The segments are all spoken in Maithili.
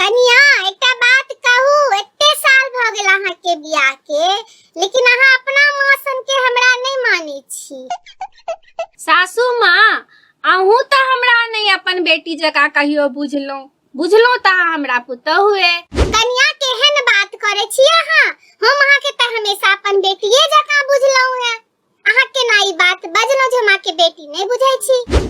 कनिया एकटा बात कहू एते साल भ गेल अहाँ के बियाह के लेकिन अहाँ अपना माँ सन के हमरा नहीं माने छी सासू माँ अहूँ तो हमरा नहीं अपन बेटी जका कहियो बुझलो बुझलो तो अहाँ हमरा पुतोह हुए कनिया केहन बात करे छी अहाँ हम अहाँ के त हमेशा अपन बेटिए जका बुझलहुं है अहाँ केना ई बात बजलहुं जे हम अहाँ के बेटी नहीं बुझै छी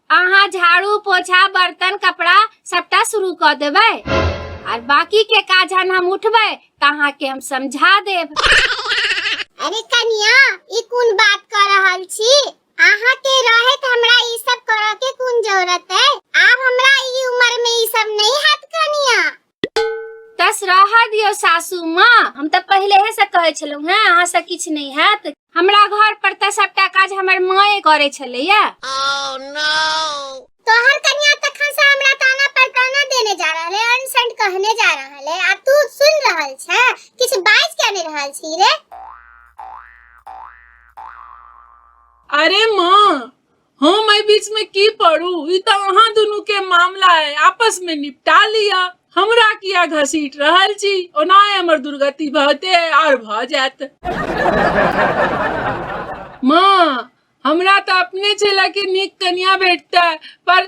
अहाँ झाड़ू पोछा बर्तन कपड़ा सबटा शुरू कऽ देबै आर बाकी के काज जहन हम उठबै तऽ अहाँके हम समझा देब अरे कनिया ई कोन बात कर रहल छी अहाँ के रहे त हमरा ई सब करऽ के कोन जरूरत है आब हमरा ई उम्र में ई सब नहीं हाथ कनिया तस रह दियो सासू माँ हम तऽ पहिले से कहै छलहुँ हेँ अहाँ से किछु नहि हैत हमरा घर पर तऽ सबटा काज हमर माए करै छलैया तोहर कन्या तखन से हमरा ताना पर ताना देने जा रहल है अनशन कहने जा रहल है आ तू सुन रहल छै किछ बाज के नहि रहल छी रे अरे माँ हम एहि बीच में की पड़ू ई तो अहाँ दुनू के मामला है आपस में निपटा लिया हमरा किया घसीट रहल छी ओना हमर दुर्गति भते आर भ जायत माँ हमरा तो अपने चेला के नीक कनिया भेटता पर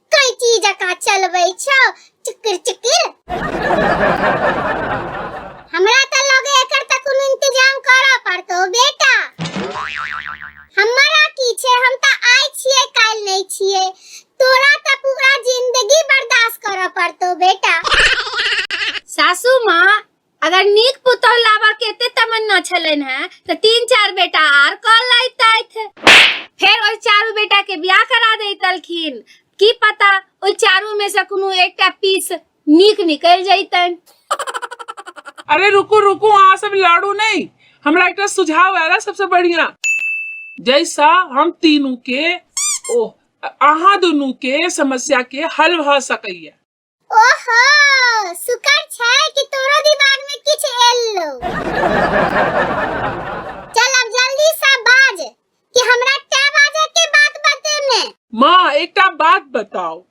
कैची जका चलबै छौ चुकुर चुकुर हमरा त लगे एकर त कोनो इंतजाम करऽ पड़तो बेटा हमरा की छै हम त आइ छियै काल्हि नै छियै तोरा त पूरा जिंदगी बर्दाश्त करऽ पड़तो बेटा सासू माँ अगर नीक पुतौह लाबऽ के एते तमन्ना छलनि हैं तऽ तीन चार बेटा आर कऽ लैतथि फेर ओहि चारू बेटा के बियाह करा दैतलखिन की पता ओहि चारू में से कोनो एकटा पीस नीक निकलि जैतनि अरे रुकू रुकू अहाँ सब लड़ू नहीं हमरा एकटा सुझाव आयल है सबसे बढ़िया जैसा हम तीनू के ओ अहाँ दुनू के समस्या के हल भऽ सकैया ओहो सुकर छै कि तोरो दिमाग में किछ एलो चल अब जल्दी से बाज कि हमरा कै बाजे के बात बते में माँ एकटा बात बताओ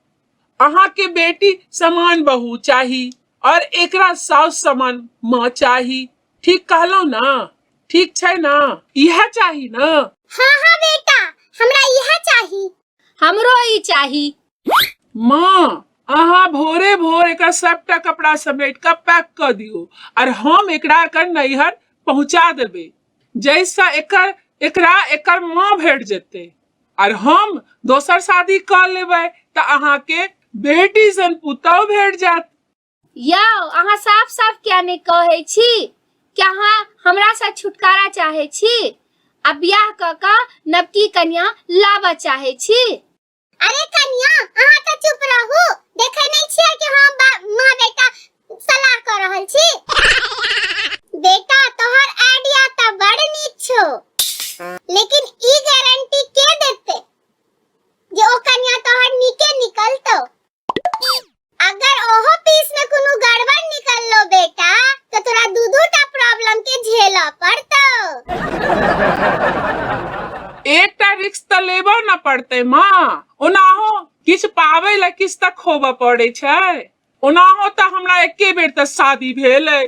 अहाँ के बेटी समान बहू चाही और एकरा साउस समान माँ चाही ठीक कहलो ना ठीक छै ना यह चाही ना हाँ हाँ बेटा हमरा यह चाही हमरो ई चाही माँ अहाँ भोरे भोर एकर सबटा कपड़ा समेट कऽ पैक कऽ दियौ आर हम एकरा एकर नैहर पहुँचा देबै जाहिसँ एकर एकरा एकर माँ भेट जेतै आर हम दोसर शादी कऽ लेबै तऽ अहाँके बेटी सन पुतहु भेट जायत यौ अहाँ साफ साफ किया नहि कहै छी कि अहाँ हमरासँ छुटकारा चाहै छी आ बियाह कऽ कऽ नवकी कन्या लाबऽ चाहै छी अरे कनिया अहाँ तऽ चुप रहू देखै नै छियै कि हम बा- माँ बेटा सलाह कऽ रहल छी बेटा तोहर आइडिया तऽ बड़ नीक छौ लेकिन ई गारंटी के देतै जे ओ कनिया तोहर नीके निकलतौ अगर ओहो पीस में कोनो गड़बड़ निकल लो बेटा तो तोरा दू दू टा प्रॉब्लम के झेला पड़तो एकटा रिक्स तऽ लेबऽ न पड़तै माँ ओनाहो किछु पाबै लए किछु तऽ खोबऽ पड़ै छै ओनाहो तऽ हमरा एके बेर तऽ शादी भेल अइ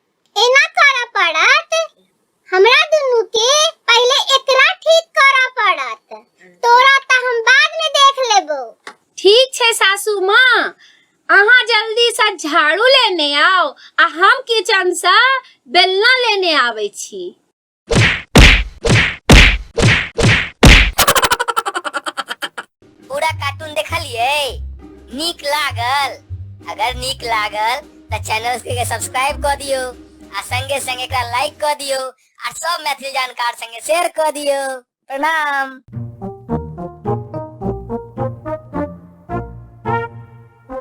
एना करऽ पड़त हमरा दुनू के पहले एकरा ठीक करऽ पड़त तोरा त हम बाद में देख लेबो ठीक छै सासू माँ अहाँ जल्दी से झाड़ू लेने आओ आ हम किचन से बेलना लेने आबै छी पूरा कार्टून देखलिए नीक लागल अगर नीक लागल तो चैनल के सब्सक्राइब कर दियो आ संगे संगे एकरा लाइक कर दियो आ सब मैथिली जानकार संगे शेयर कर दियो प्रणाम